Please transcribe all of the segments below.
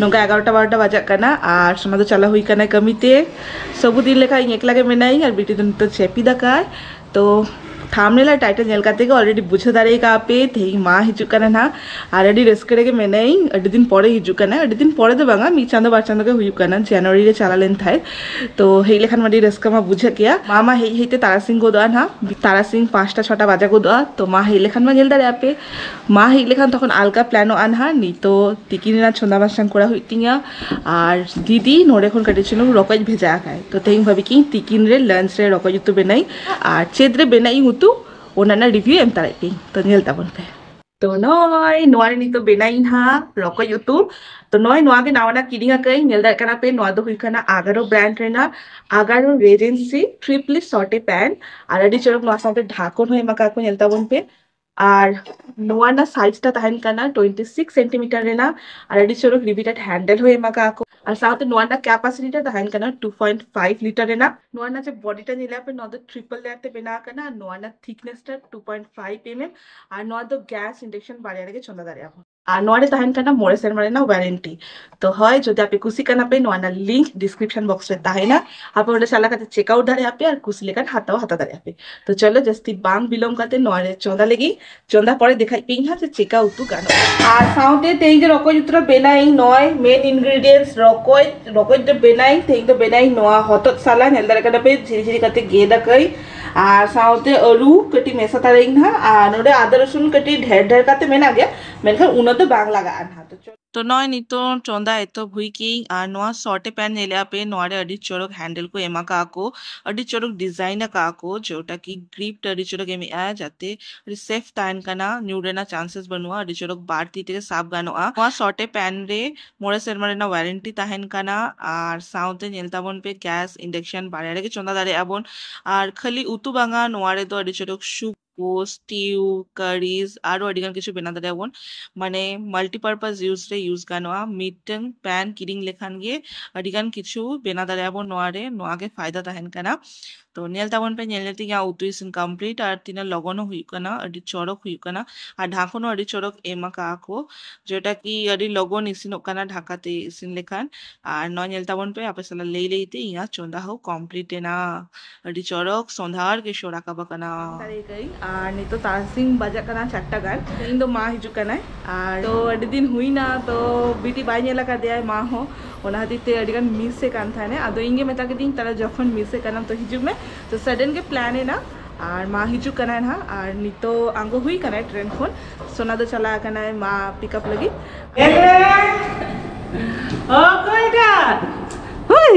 ᱱᱚᱝᱠᱟ ᱮᱜᱟᱨᱚᱴᱟ ᱵᱟᱨᱚᱴᱟ ᱵᱟᱡᱟᱜ ᱠᱟᱱᱟ ᱟᱨ ᱥᱚᱱᱟ ᱫᱚ ᱪᱟᱞᱟᱣ ᱦᱩᱭ ᱠᱟᱱᱟ ᱠᱟᱹᱢᱤᱛᱮ ᱥᱚᱵᱩ ᱫᱤᱱ ᱞᱮᱠᱟ ᱤᱧ ᱮᱠᱞᱟ ᱜᱮ ᱢᱮᱱᱟᱭᱤᱧ ᱟᱨ ᱵᱤᱴᱤ ᱫᱚ ᱱᱤᱛᱚᱜ ᱪᱮᱯᱤ ᱫᱟᱠᱟᱭ ᱛᱚ ᱛᱷᱟᱢᱱᱮᱞ ᱟᱨ ᱴᱟᱭᱴᱮᱞ ᱧᱮᱞ ᱠᱟᱛᱮ ᱜᱮ ᱚᱞᱨᱮᱰᱤ ᱵᱩᱡᱷᱟᱹᱣ ᱫᱟᱲᱮ ᱠᱟᱜ ᱯᱮ ᱛᱮᱦᱮᱧ ᱢᱟ ᱦᱤᱡᱩᱜ ᱠᱟᱱᱟ ᱱᱟᱦᱟᱜ ᱟᱨ ᱟᱹᱰᱤ ᱨᱟᱹᱥᱠᱟᱹ ᱨᱮᱜᱮ ᱢᱮᱱᱟᱭᱤᱧ ᱟᱹᱰᱤ ᱫᱤᱱ ᱯᱚᱨᱮ ᱦᱤᱡᱩᱜ ᱠᱟᱱᱟ ᱟᱹᱰᱤ ᱫᱤᱱ ᱯᱚᱨᱮ ᱫᱚ ᱵᱟᱝᱟ ᱢᱤᱫ ᱪᱟᱸᱫᱚ ᱵᱟᱨ ᱪᱟᱸᱫᱚ ᱜᱮ ᱦᱩᱭᱩᱜ ᱠᱟᱱᱟ ᱡᱟᱱᱩᱣᱟᱨᱤ ᱨᱮ ᱪᱟᱞᱟᱣ ᱞᱮᱱ ᱛᱟᱦᱮᱸᱫ ᱛᱚ ᱦᱮᱡ ᱞᱮᱠᱷᱟᱱ ᱟᱹᱰᱤ ᱨᱟᱹᱥᱠᱟᱹ ᱢᱟ ᱵᱩᱡᱷᱟᱹᱜ ᱜᱮᱭᱟ ᱢᱟ ᱢᱟ ᱦᱮᱡ ᱦᱮᱡ ᱛᱮ ᱛᱟᱨᱟᱥᱤᱧ ᱜᱚᱫᱚᱜᱼᱟ ᱱᱟᱦᱟᱜ ᱛᱟᱨᱟᱥᱤᱧ ᱯᱟᱸᱪᱴᱟ ᱪᱷᱚᱴᱟ ᱵᱟᱡᱟᱣ ᱜᱚᱫᱚᱜᱼᱟ ᱛᱚ ᱢᱟ ᱦᱮᱡ ᱞᱮᱠᱷᱟᱱ ᱢᱟ ᱧᱮᱞ ᱫᱟᱲᱮᱭᱟᱜᱼᱟ ᱯᱮ ᱢᱟ ᱦᱮᱡ ᱞᱮᱠᱷᱟᱱ ᱛᱚᱠᱷᱚᱱ ᱟᱞᱜᱟ ᱯᱞᱮᱱᱚᱜᱼᱟ ᱱᱟᱦᱟᱜ ᱱᱤᱛᱚᱜ ᱛᱤᱠᱤᱱ ᱨᱮᱱᱟᱜ ᱪᱚᱸᱫᱟ ᱵᱟᱥᱟᱝ ᱠᱚᱨᱟᱣ ᱦᱩᱭᱩᱜ ᱛᱤᱧᱟᱹ ᱟᱨ ᱫᱤᱫᱤ ᱱᱚᱰᱮ ᱠᱷᱚᱱ ᱠᱟᱹᱴᱤᱡ ᱪᱩᱞᱩᱝ ᱨᱚᱠᱚᱡ ᱵᱷᱮᱡᱟ ᱟᱠᱟᱫᱟᱭ ᱛᱚ ᱛᱮᱦᱮᱧ ᱵᱷᱟᱹᱵᱤ ᱠᱤᱫᱟᱹᱧ ᱛᱤᱠᱤᱱ ᱨᱮ ᱞᱟᱧᱪ ᱨᱮ ᱨᱚᱠᱚᱡ ᱩᱛᱩ ᱵᱮᱱᱟᱣᱤᱧ ᱟᱨ ᱪᱮᱫ ᱨᱮ ᱵᱮᱱᱟᱜ ᱤᱧ ᱩᱛᱩ ᱚᱱᱟ ᱨᱮᱱᱟᱜ ᱨᱤᱵᱷᱤᱭᱩ ᱮᱢ ᱛᱟᱨᱟᱭ ᱯᱮ ᱛᱚ ᱧᱮᱞ ᱛᱟᱵᱚᱱ ᱯᱮ ᱛᱚ ᱱᱚᱜᱼᱚᱭ ᱱᱚᱣᱟ ᱨᱮ ᱱᱤᱛᱚᱜ ᱵᱮᱱᱟᱣ ᱤᱧ ᱱᱟᱦᱟᱜ ᱨᱚᱠᱚᱡ ᱩᱛᱩ ᱛᱚ ᱱᱚᱜᱼᱚᱭ ᱱᱚᱣᱟ ᱜᱮ ᱱᱟᱣᱟᱱᱟᱜ ᱠᱤᱨᱤᱧ ᱟᱠᱟᱫ ᱟᱹᱧ ᱧᱮᱞ ᱫᱟᱲᱮᱭᱟᱜ ᱠᱟᱱᱟ ᱯᱮ ᱱᱚᱣᱟ ᱫᱚ ᱦᱩᱭᱩᱜ ᱠᱟᱱᱟ ᱟᱜᱟᱨᱳ ᱵᱨᱟᱱᱰ ᱨᱮᱱᱟᱜ ᱟᱜᱟᱨᱳ ᱨᱮᱡᱮᱱᱥᱤ ᱴᱨᱤᱯᱞᱤ ᱥᱚᱴᱮ ᱯᱮᱱ ᱟᱨ ᱟᱹᱰᱤ ᱪᱚᱨᱚᱠ ᱱᱚᱣᱟ ᱥᱟᱶᱛᱮ ᱰᱷᱟᱠᱚᱱ ᱦᱚᱸ ᱮᱢ ᱟᱠᱟᱫ ᱠᱚ ᱧᱮᱞ ᱛᱟᱵᱚᱱ ᱯᱮ ᱟᱨ ᱱᱚᱣᱟ ᱨᱮᱱᱟᱜ ᱥᱟᱭᱤᱡ ᱴᱟ ᱛᱟᱦᱮᱱ ᱠᱟᱱᱟ ᱴᱩᱭᱮᱱᱴᱤ ᱥᱤᱠᱥ ᱥᱮᱱᱴᱤᱢᱤᱴᱟᱨ ᱨᱮᱱᱟᱜ ᱟᱨ ᱟᱹᱰᱤ ᱪᱚᱨᱚᱠ ᱨᱤᱵᱤᱴᱮᱰ ᱦᱮᱱᱰᱮᱞ ᱦᱚᱸ ᱮᱢ ᱟᱠᱟᱫ ᱠᱚ ᱟᱨ ᱥᱟᱶᱛᱮ ᱱᱚᱣᱟ ᱨᱮᱱᱟᱜ ᱠᱮᱯᱟᱥᱤᱴᱤ ᱴᱟ ᱛᱟᱦᱮᱱ ᱠᱟᱱᱟ ᱴᱩ ᱯᱚᱭᱮᱱᱴ ᱯᱷᱟᱭᱤᱵ ᱞᱤᱴᱟᱨ ᱨᱮᱱᱟᱜ ᱱᱚᱣᱟ ᱨᱮᱱᱟᱜ ᱡᱮ ᱵᱚᱰᱤ ᱴᱟ ᱧᱮᱞᱟ ᱯᱮ ᱱᱚᱣᱟ ᱫᱚ ᱴᱨᱤᱯᱚᱞ ᱞᱮᱭᱟᱨ ᱛᱮ ᱵᱮᱱᱟᱣ ᱟᱠᱟᱱᱟ ᱟᱨ ᱱᱚᱣᱟ ᱨᱮᱱᱟᱜ ᱛᱷᱤᱠᱱᱮᱥ ᱴᱟ two point five M M ᱟᱨ ᱱᱚᱣᱟ ᱫᱚ ᱜᱮᱥ ᱤᱱᱰᱮᱠᱥᱚᱱ ᱵᱟᱨᱭᱟ ᱨᱮᱜᱮ ᱪᱚᱸᱫᱟ ᱫᱟᱲᱮᱭᱟᱜᱼᱟ ᱵᱚᱱ ᱟᱨ ᱱᱚᱣᱟ ᱨᱮ ᱛᱟᱦᱮᱱ ᱠᱟᱱᱟ ᱢᱚᱬᱮ ᱥᱮᱨᱢᱟ ᱨᱮᱱᱟᱜ ᱣᱟᱨᱮᱱᱴᱤ ᱛᱚ ᱦᱳᱭ ᱡᱩᱫᱤ ᱟᱯᱮ ᱠᱩᱥᱤ ᱠᱟᱱᱟ ᱯᱮ ᱱᱚᱣᱟ ᱨᱮᱱᱟᱜ ᱞᱤᱝᱠ ᱰᱤᱥᱠᱨᱤᱯᱥᱚᱱ ᱵᱚᱠᱥ ᱨᱮ ᱛᱟᱦᱮᱱᱟ ᱟᱯᱮ ᱚᱸᱰᱮ ᱪᱟᱞᱟᱣ ᱠᱟᱛᱮ ᱪᱮᱠ ᱟᱣᱩᱴ ᱫᱟᱲᱮᱭᱟᱜ ᱯᱮ ᱟᱨ ᱠᱩᱥᱤ ᱞᱮᱠᱟᱱ ᱦᱟᱛᱟᱣ ᱦᱟᱛᱟᱣ ᱫᱟᱲᱮᱭᱟᱜ ᱯᱮ ᱛᱚ ᱪᱚᱞᱚ ᱡᱟᱹᱥᱛᱤ ᱵᱟᱝ ᱵᱤᱞᱚᱢ ᱠᱟᱛᱮ ᱱᱚᱣᱟ ᱨᱮ ᱪᱚᱸᱫᱟ ᱞᱟᱹᱜᱤᱫ ᱪᱚᱸᱫᱟ ᱯᱚᱨᱮ ᱫᱮᱠᱷᱟᱡ ᱯᱮ ᱤᱧ ᱦᱟᱸᱜ ᱡᱮ ᱪᱮᱠᱟ ᱩᱛᱩ ᱜᱟᱱᱚᱜᱼᱟ ᱟᱨ ᱥᱟᱶᱛᱮ ᱛᱮᱦᱮᱧ ᱫᱚ ᱨᱚᱠᱚᱡ ᱩᱛᱩ ᱨᱮ ᱵᱮᱱᱟᱣ ᱤᱧ ᱱᱚᱭ ᱢᱮᱱ ᱤᱱᱜᱨᱮᱰᱤᱭᱮᱱᱴᱥ ᱨᱚᱠᱚᱡ ᱨᱚᱠᱚᱡ ᱫᱚ ᱵᱮᱱᱟᱣ ᱤᱧ ᱛᱮᱦᱮᱧ ᱫᱚ ᱵᱮᱱᱟᱣ ᱤᱧ ᱱᱚᱣᱟ ᱦᱚᱛᱚᱫ ᱥᱟᱞᱟ ᱧᱮᱞ ᱫᱟᱲᱮᱭᱟᱜ ᱠᱟᱱᱟ ᱯᱮ ᱡᱷᱤᱨᱤ ᱡᱷᱤᱨᱤ ᱠᱟᱛᱮ ᱜᱮᱫ ᱟᱠᱟᱫᱟᱹᱧ ᱟᱨ ᱥᱟᱶᱛᱮ ᱟᱹᱞᱩ ᱠᱟᱹᱴᱤᱡ ᱢᱮᱥᱟ ᱛᱟᱨᱟᱭᱟᱹᱧ ᱱᱟᱦᱟᱜ ᱟᱨ ᱱᱚᱰᱮ ᱟᱫᱟ ᱨᱟᱹᱥᱩᱱ ᱠᱟᱹᱴᱤᱡ ᱰᱷᱮᱨ ᱰᱷᱮᱨ ᱠᱟᱛᱮ ᱢᱮᱱᱟᱜ ᱜᱮᱭᱟ ᱢᱮᱱᱠᱷᱟᱱ ᱩᱱᱟᱹᱜ ᱫᱚ ᱵᱟᱝ ᱞᱟᱜᱟᱜᱼᱟ ᱱᱟᱦᱟᱜ ᱛᱚ ᱱᱚᱜᱼᱚᱭ ᱱᱤᱛᱚᱜ ᱪᱚᱸᱫᱟ ᱮᱛᱚᱦᱚᱵ ᱦᱩᱭ ᱠᱮᱜ ᱟᱹᱧ ᱟᱨ ᱱᱚᱣᱟ ᱥᱚᱨᱴ ᱮ ᱯᱮᱱ ᱧᱮᱞᱮᱜᱼᱟ ᱯᱮ ᱱᱚᱣᱟ ᱨᱮ ᱟᱹᱰᱤ ᱪᱚᱨᱚᱠ ᱦᱮᱱᱰᱮᱞ ᱠᱚ ᱮᱢ ᱟᱠᱟᱜᱼᱟ ᱠᱚ ᱟᱹᱰᱤ ᱪᱚᱨᱚᱠ ᱰᱤᱡᱟᱭᱤᱱ ᱟᱠᱟᱜᱼᱟ ᱠᱚ ᱡᱮᱴᱟ ᱠᱤ ᱜᱨᱤᱯ ᱴᱟ ᱟᱹᱰᱤ ᱪᱚᱨᱚᱠ ᱮᱢᱮᱜᱼᱟ ᱡᱟᱛᱮ ᱟᱹᱰᱤ ᱥᱮᱯᱷ ᱛᱟᱦᱮᱱ ᱠᱟᱱᱟ ᱧᱩᱨ ᱨᱮᱱᱟᱜ ᱪᱟᱱᱥᱮᱥ ᱵᱟᱹᱱᱩᱜᱼᱟ ᱟᱹᱰᱤ ᱪᱚᱨᱚᱠ ᱵᱟᱨ ᱛᱤ ᱛᱮᱜᱮ ᱥᱟᱵ ᱜᱟᱱᱚᱜᱼᱟ ᱱᱚᱣᱟ ᱥᱚᱨᱴ ᱮ ᱯᱮᱱ ᱨᱮ ᱢᱚᱬᱮ ᱥᱮᱨᱢᱟ ᱨᱮᱱᱟᱜ ᱣᱟᱨᱮᱱᱴᱤ ᱛᱟᱦᱮᱱ ᱠᱟᱱᱟ ᱟᱨ ᱥᱟᱶᱛᱮ ᱧᱮᱞ ᱛᱟᱵᱚᱱ ᱯᱮ ᱜᱮᱥ ᱤᱱᱰᱟᱠᱥᱚᱱ ᱵᱟᱨᱭᱟ ᱨᱮᱜᱮ ᱪᱚᱸᱫᱟ ᱫᱟᱲᱮᱭᱟᱜᱼᱟ ᱵᱚᱱ ᱟᱨ ᱠᱷᱟᱹᱞᱤ ᱩᱛᱩ ᱵᱟᱝᱟ ᱱᱚᱣᱟ ᱨᱮᱫᱚ ᱟᱹᱰᱤ ᱪᱚᱨᱚᱠ ᱥᱩᱯ ᱠᱚ ᱥᱴᱤᱣ ᱠᱟᱨᱤᱡ ᱟᱨᱚ ᱟᱹᱰᱤ ᱜᱟᱱ ᱠᱤᱪᱷᱩ ᱵᱮᱱᱟᱣ ᱫᱟᱲᱮᱭᱟᱜᱼᱟ ᱵᱚᱱ ᱢᱟᱱᱮ ᱢᱟᱞᱴᱤᱯᱟᱨᱯᱟᱥ ᱤᱭᱩᱡᱽ ᱨᱮ ᱤᱭᱩᱡᱽ ᱜᱟᱱᱚᱜᱼᱟ ᱢᱤᱫᱴᱟᱝ ᱯᱮᱱ ᱠᱤᱨᱤᱧ ᱞᱮᱠᱷᱟᱱ ᱜᱮ ᱟᱹᱰᱤ ᱜᱟᱱ ᱠᱤᱪᱷᱩ ᱵᱮᱱᱟᱣ ᱫᱟᱲᱮᱭᱟᱜᱼᱟ ᱵᱚᱱ ᱱᱚᱣᱟ ᱨᱮ ᱱᱚᱣᱟ ᱜᱮ ᱯᱷᱟᱭᱫᱟ ᱛᱟᱦᱮᱱ ᱠᱟᱱᱟ ᱛᱚ ᱧᱮᱞ ᱛᱟᱵᱚᱱ ᱯᱮ ᱧᱮᱞ ᱧᱮᱞ ᱛᱮ ᱤᱧᱟᱹᱜ ᱩᱛᱩ ᱤᱥᱤᱱ ᱠᱚᱢᱯᱞᱤᱴ ᱟᱨ ᱛᱤᱱᱟᱹᱜ ᱞᱚᱜᱚᱱ ᱦᱚᱸ ᱦᱩᱭᱩᱜ ᱠᱟᱱᱟ ᱟᱹᱰᱤ ᱪᱚᱨᱚᱠ ᱦᱩᱭᱩᱜ ᱠᱟᱱᱟ ᱟᱨ ᱰᱷᱟᱠᱚᱱ ᱦᱚᱸ ᱟᱹᱰᱤ ᱪᱚᱨᱚᱠ ᱮᱢ ᱟᱠᱟᱜᱼᱟ ᱠᱚ ᱡᱮᱴᱟ ᱠᱤ ᱟᱹᱰᱤ ᱞᱚᱜᱚᱱ ᱤᱥᱤᱱᱚᱜ ᱠᱟᱱᱟ ᱰᱷᱟᱠᱟ ᱛᱮ ᱤᱥᱤᱱ ᱞᱮᱠᱷᱟᱱ ᱟᱨ ᱱᱚᱣᱟ ᱧᱮᱞ ᱛᱟᱵᱚᱱ ᱯᱮ ᱟᱯᱮ ᱥᱟᱞᱟᱜ ᱞᱟᱹᱭ ᱞᱟᱹᱭ ᱛᱮ ᱤᱧᱟᱹᱜ ᱪᱚᱸᱫᱟ ᱦᱚᱸ ᱠᱚᱢᱯᱞᱤᱴ ᱮᱱᱟ ᱟᱹᱰᱤ ᱪᱚᱨᱚᱠ ᱥᱚᱸᱫᱷᱟᱲ ᱜᱮ ᱥᱚ ᱨᱟᱠᱟᱵ ᱟᱠᱟᱱᱟ ᱫᱟᱲᱮ ᱠᱟᱹᱧ ᱟᱨ ᱱᱤᱛᱚᱜ ᱛᱟᱨᱟᱥᱤᱧ ᱵᱟᱡᱟᱜ ᱠᱟᱱᱟ ᱪᱟᱨᱴᱟ ᱜᱟᱱ ᱤᱧ ᱫᱚ ᱢᱟ ᱦᱤᱡᱩᱜ ᱠᱟᱱᱟᱭ ᱟᱨ ᱛᱚ ᱟᱹᱰᱤ ᱫᱤᱱ ᱦᱩᱭᱱᱟ ᱛᱚ ᱵᱤᱴᱤ ᱵᱟᱭ ᱧᱮᱞ ᱟᱠᱟᱫᱮᱭᱟ ᱢᱟ ᱦᱚᱸ ᱚᱱᱟ ᱠᱷᱟᱹᱛᱤᱨ ᱛᱮ ᱟᱹᱰᱤ ᱜᱟᱱ ᱢᱤᱥ ᱮ ᱠᱟᱱ ᱛᱟᱦᱮᱱᱟ ᱟᱫᱚ ᱤᱧ ᱜᱮ ᱢᱮᱛᱟ ᱠᱮᱫᱤᱧ ᱛᱟᱦᱚᱞᱮ ᱡᱚᱠᱷᱚᱱ ᱢᱤᱥ ᱮ ᱠᱟᱱᱟᱢ ᱛᱚ ᱦᱤᱡᱩᱜ ᱢᱮ ᱛᱚ ᱥᱟᱰᱮᱱ ᱜᱮ ᱯᱞᱟᱱ ᱮᱱᱟ ᱟᱨ ᱢᱟ ᱦᱤᱡᱩᱜ ᱠᱟᱱᱟᱭ ᱱᱟᱦᱟᱜ ᱟᱨ ᱱᱤᱛᱚᱜ ᱟᱬᱜᱚ ᱦᱩᱭ ᱠᱟᱱᱟᱭ ᱴᱨᱮᱱ ᱠᱷᱚᱱ ᱥᱳᱱᱟ ᱫᱚ ᱪᱟᱞᱟᱣ ᱠᱟᱱᱟᱭ ᱢᱟ ᱯᱤᱠᱟᱯ ᱞᱟᱹᱜᱤᱫ ᱚᱠᱚᱭ ᱴᱟᱜ ᱦᱳᱭ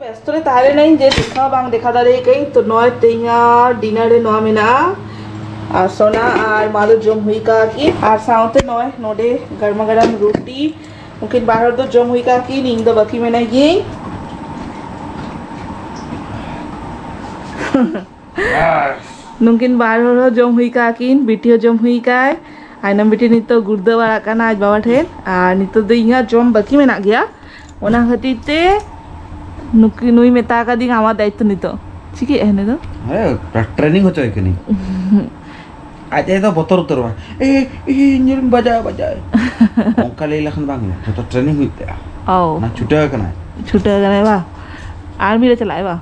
ᱵᱮᱥᱛᱚ ᱨᱮ ᱛᱟᱦᱮᱸ ᱞᱮᱱᱟᱹᱧ ᱡᱮ ᱫᱮᱠᱷᱟᱣ ᱵᱟᱝ ᱫᱮᱠᱷᱟᱣ ᱫᱟᱲᱮᱭᱟᱜ ᱠᱟᱹᱧ ᱛᱚ ᱱᱚᱜᱼᱚᱭ ᱛᱮᱦᱮᱧᱟᱜ ᱰᱤᱱᱟᱨ ᱨᱮ ᱱᱚᱣᱟ ᱢᱮᱱᱟᱜᱼᱟ ᱟᱨ ᱥᱚᱱᱟ ᱟᱨ ᱢᱟ ᱫᱚ ᱡᱚᱢ ᱦᱩᱭ ᱠᱟᱜᱼᱟ ᱠᱤ ᱟᱨ ᱥᱟᱶᱛᱮ ᱱᱚᱜᱼᱚᱭ ᱱᱚᱰᱮ ᱜᱟᱨᱢᱟ ᱜᱟᱨᱟᱢ ᱨᱩᱴᱤ ᱩᱱᱠᱤᱱ ᱵᱟᱨ ᱦᱚᱲ ᱫᱚ ᱡᱚᱢ ᱦᱩᱭ ᱠᱟᱜᱼᱟ ᱠᱤᱱ ᱤᱧ ᱫᱚ ᱵᱟᱹᱠᱤ ᱢᱮᱱᱟᱭ ᱜᱤᱭᱟᱹᱧ ᱱᱩᱠᱤᱱ ᱵᱟᱨ ᱦᱚᱲ ᱦᱚᱸ ᱡᱚᱢ ᱦᱩᱭ ᱠᱟᱜᱼᱟ ᱠᱤᱱ ᱵᱤᱴᱤ ᱦᱚᱸ ᱡᱚᱢ ᱦᱩᱭ ᱠᱟᱭ ᱟᱭᱱᱚᱢ ᱵᱤᱴᱤ ᱱᱤᱛᱚᱜ ᱜᱩᱲᱫᱟᱹ ᱵᱟᱲᱟᱜ ᱠᱟᱱᱟ ᱟᱡ ᱵᱟᱵᱟ ᱴᱷᱮᱱ ᱟᱨ ᱱᱤᱛᱚᱜ ᱫᱚ ᱤᱧᱟᱹᱜ ᱡᱚᱢ ᱵᱟᱹᱠᱤ ᱢᱮᱱᱟᱜ ᱜᱮᱭᱟ ᱚᱱᱟ ᱠᱷᱟᱹᱛᱤᱨ ᱛᱮ ᱱᱩᱠᱤ ᱱᱩᱭ ᱢᱮᱛᱟ ᱠᱟᱫᱤᱧ ᱟᱢᱟᱜ ᱫᱟᱭᱤᱛᱛᱚ ᱱᱤᱛᱚᱜ ᱪᱤᱠᱟᱹᱭᱮᱫᱼᱟ ᱱᱩᱭ ᱫᱚ ᱦᱮᱸ ᱴᱨᱮᱱᱤᱝ ᱦᱚᱪᱚᱭᱮ ᱠᱟᱹᱱᱟᱹᱧ ᱟᱡ ᱟᱭᱳ ᱫᱚ ᱵᱚᱛᱚᱨ ᱩᱛᱟᱹᱨᱚᱜᱼᱟ ᱮ ᱤᱧ ᱧᱮᱞ ᱵᱟᱡᱟᱭ ᱵᱟᱡᱟᱭ ᱚᱱᱠᱟ ᱞᱟᱹᱭ ᱞᱮᱠᱷᱟᱱ ᱵᱟᱝ ᱦᱩᱭᱩᱜᱼᱟ ᱡᱚᱛᱚ ᱴᱨᱮᱱᱤᱝ ᱦᱩᱭᱩᱜ ᱛᱟᱭᱟ ᱚ ᱚᱱᱟ ᱪᱷᱩᱴᱟᱹᱣ ᱠᱟᱱᱟᱭ ᱪᱷᱩᱴᱟᱹᱣ ᱠᱟᱱᱟᱭ ᱵᱟ ᱟᱨᱢᱤ ᱨᱮ ᱪᱟᱞᱟᱜ ᱟᱭ ᱵᱟ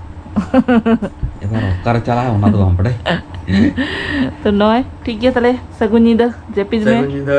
ᱮᱵᱟᱨ ᱚᱠᱟᱨᱮ ᱪᱟᱞᱟᱜᱼᱟ ᱚᱱᱟ ᱫᱚ ᱵᱟᱢ ᱵᱟᱰᱟᱭ ᱛᱚ ᱱᱚᱜᱼᱚᱭ ᱴᱷᱤᱠ ᱜᱮᱭᱟ ᱛᱟᱦᱞᱮ ᱥᱟᱹᱜᱩᱱ ᱧᱤᱫᱟᱹ ᱡᱟᱹᱯᱤᱫ ᱢᱮ ᱥᱟᱹᱜᱩᱱ ᱧᱤᱫᱟᱹ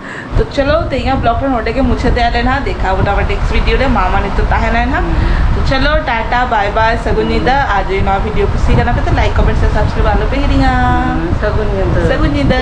ᱛᱚ ᱪᱚᱞᱚ ᱛᱮᱦᱮᱧᱟᱜ ᱵᱞᱚᱜ ᱨᱮ ᱱᱚᱰᱮ ᱜᱮ ᱢᱩᱪᱟᱹᱫ ᱮᱫ ᱟᱞᱮ ᱱᱟᱦᱟᱜ ᱫᱮᱠᱷᱟ ᱵᱚᱱᱟ ᱟᱵᱟᱨ ᱱᱮᱠᱥᱴ ᱵᱷᱤᱰᱤᱭᱳ ᱨᱮ ᱢᱟ ᱢᱟ ᱱᱤᱛᱚᱜ ᱛᱟᱦᱮᱱᱟ ᱱᱟᱦᱟᱜ ᱛᱚ ᱪᱚᱞᱚ ᱴᱟᱴᱟ ᱵᱟᱭ ᱵᱟᱭ ᱥᱟᱹᱜᱩᱱ ᱧᱤᱫᱟᱹ ᱟᱨ ᱡᱩᱫᱤ ᱱᱚᱣᱟ ᱵᱷᱤᱰᱤᱭᱳ ᱠᱩᱥᱤ ᱠᱟᱱᱟ ᱯᱮ ᱛᱚ ᱞᱟᱭᱤᱠ ᱠᱚᱢᱮᱱᱴ ᱥᱮ ᱥᱟᱵᱥᱠᱨᱟᱭᱤᱵ ᱟᱞᱚ ᱯᱮ ᱦᱤᱲᱤᱧᱟ ᱥᱟᱹᱜᱩᱱ ᱧᱤᱫᱟᱹ ᱥᱟᱹᱜᱩᱱ ᱧᱤᱫᱟᱹ